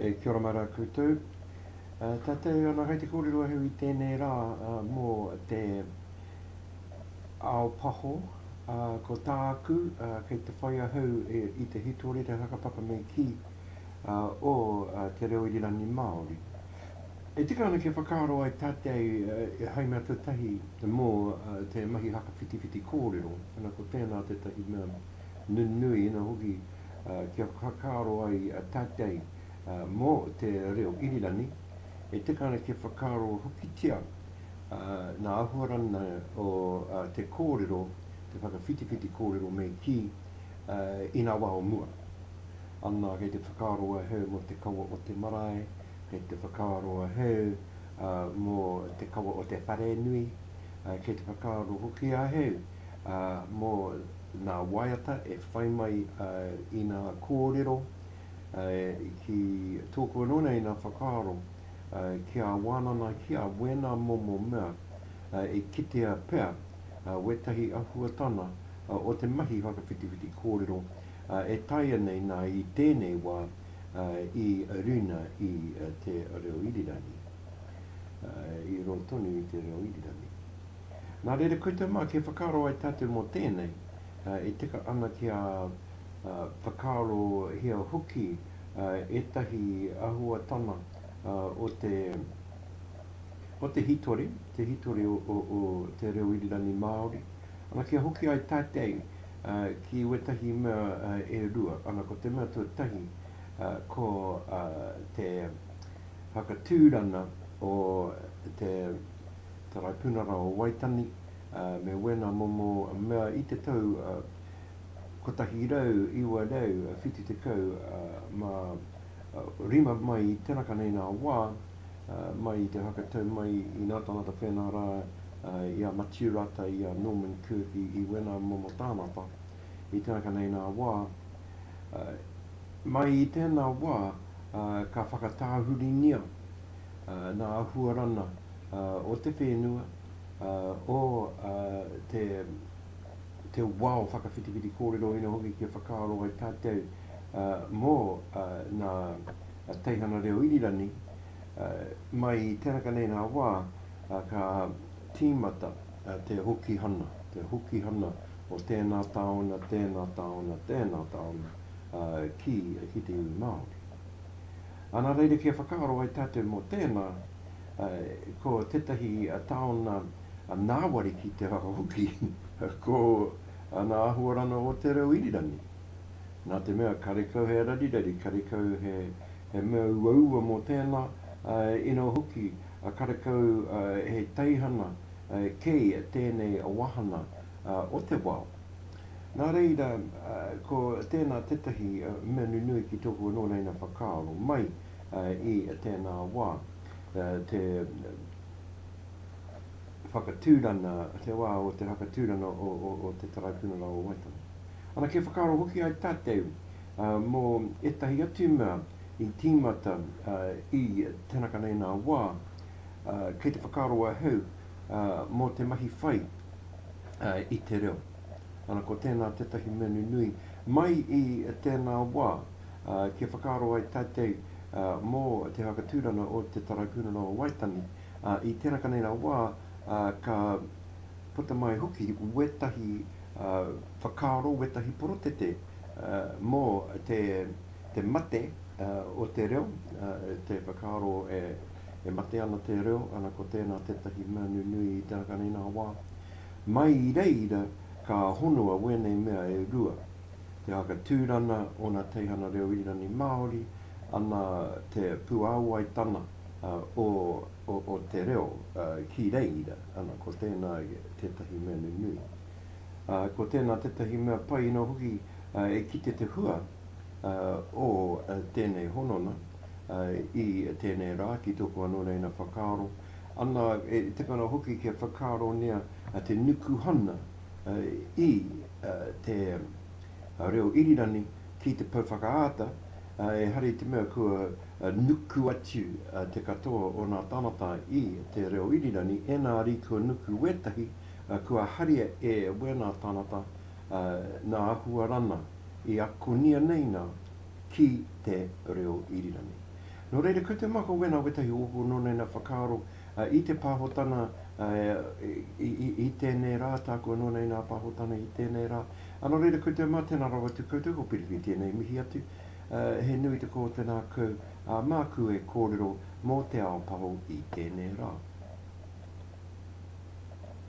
E kia ora mai rā koutou. Tatau ana hai te kōrero ahau i tēnei rā mō te ao paho. Ko tāku kei te whai ahau i te hitorira hakapapa me kī o te reo irirangi Māori. E tika ana kia whakaaro ai tātei e hai mea te tahi mō te mahi hakawhitiwhiti kōrero, ana ko tēnā tētahi mea nunui, ina hoki kia whakaaro ai tātei mō te reo irirani, e tika ana kia whakaaro hokitia nā āhuarana o te kōrero, te whakawhitiwhiti kōrero me kī, inā wā o mua. Ana kei te whakaaro ahau mō te kawa o te marae, Kei te whakaaro ahau mō te kawa o te wharenui, kei te whakaaro hoki ahau mō nā waiata e whai mai i nā kōrero ki tōku anō nei nā whakaaro ki a Wānana, ki a wēnā momo mea e kitea pea wētahi ahuatana o te mahi whakawhitiwhiti kōrero e taea nei nā i tēnei wā. i rina i te reo irirangi, i roa tonu i te reo irirangi. Nā reira koutou mā, kia whakaaro ai tātou mō tēnei, e tika ana kia whakaarohia hoki ētahi āhuatana o te o te hītori, te hītori o te reo irirangi Māori, ana, kia hoki ai tātei, ki wētahi mea e rua, ana ko te mea tuatahi ko te whakatūrana o te Taraipunara o Waitani me wēnā momo mea i te tau 1970 mā rima mai i te raka nei nā wā, mai i te hakatau mai i nā tāngata whēnā rā, i a Matiu rātau i a Norman Kirk i, i wēnā momo tāngata, i te raka nei nā wā, mai i tēnā wā, ka whakatāhuringia nā huarana o te whēnua, o te, te wao whakawhitiwhiti kōrero ina hoki kia whakaaro ai tātau, mō nā teihana reo irirangi mai i tēraka nei rā wā ka tīmata te hokihana, te hokihana o tēnā tāona, tēnā tāona, tēnā tāona ki te iwi Māori. Ā, nā reira kia whakaaro ai tātou mō tēnā, ko tētahi tāona ngāwari ki te whakahoki, ko ngā āhuaranga o te reo irirangi. Nā te mea karekau he rarirari, karekau he mea uaua mō tēnā, inā hoki, karekau he teihana kei tēnei wāhana o te wao. Nā reira, ko tēnā tētahi mea nunui ki tōku anō reina whakaaro mai i tēnā wā, te whakatūrana, te wā o te whakatūrana o te Taraipunara o Waitangi. Ana kia whakaaro hoki ai tātou mō ētahi atu mea i tīmata i tēnā kanainā wā, kei te whakaaro ahau mō te mahi whai i te reo. Ana ko tēnā tētahi mea nunui mai i tēnā wā kia whakaaro ai tātou mō te whakatūranga o te Taraipiunara o Waitangi i tēnā kanainā wā ka puta mai hoki wētahi whakaaro, wētahi porotete mō te mate o te reo, te whakaaro e mate ana te reo, ana ko tēnā tētahi mea nunui i te ākanainā wā. Mai i reira ka honua wēnei mea e rua, te haka tūrana, ōna teihana reo irani Māori, ana te puāwai tana, o te reo ki reira, ana, ko tēnā tētahi mea nunui. Ko tēnā tētahi mea pai noa hoki e kite te hua o tēnei honona i tēnei rā ki tōku anō reina whakaaro, ana, e tukuna hoki kia whakaarongia te nukuhana i te reo irirangi Ki te pou whakaata, ehara i te mea kua nuku atu te katoa o nā tāngata i te reo irirangi, ēnā rī kua nuku wētahi, kua haria e wēnā tāngata nā Ahuarana i akonia nei nā ki te reo irirangi. Nō reira, ko te mako wēnā wētahi o ōku nōnaina whakaaro i te pāhotana i tēnei rā, tāku anō nei nā pāhotana i tēnei rā, A nō reira koutou mā, tēnā rawa atu koutou, ko Piripi tēnei mihi atu. He nui te kōti nāku, ā, māku e kōrero mō Te Ao Paho i tēnei rā.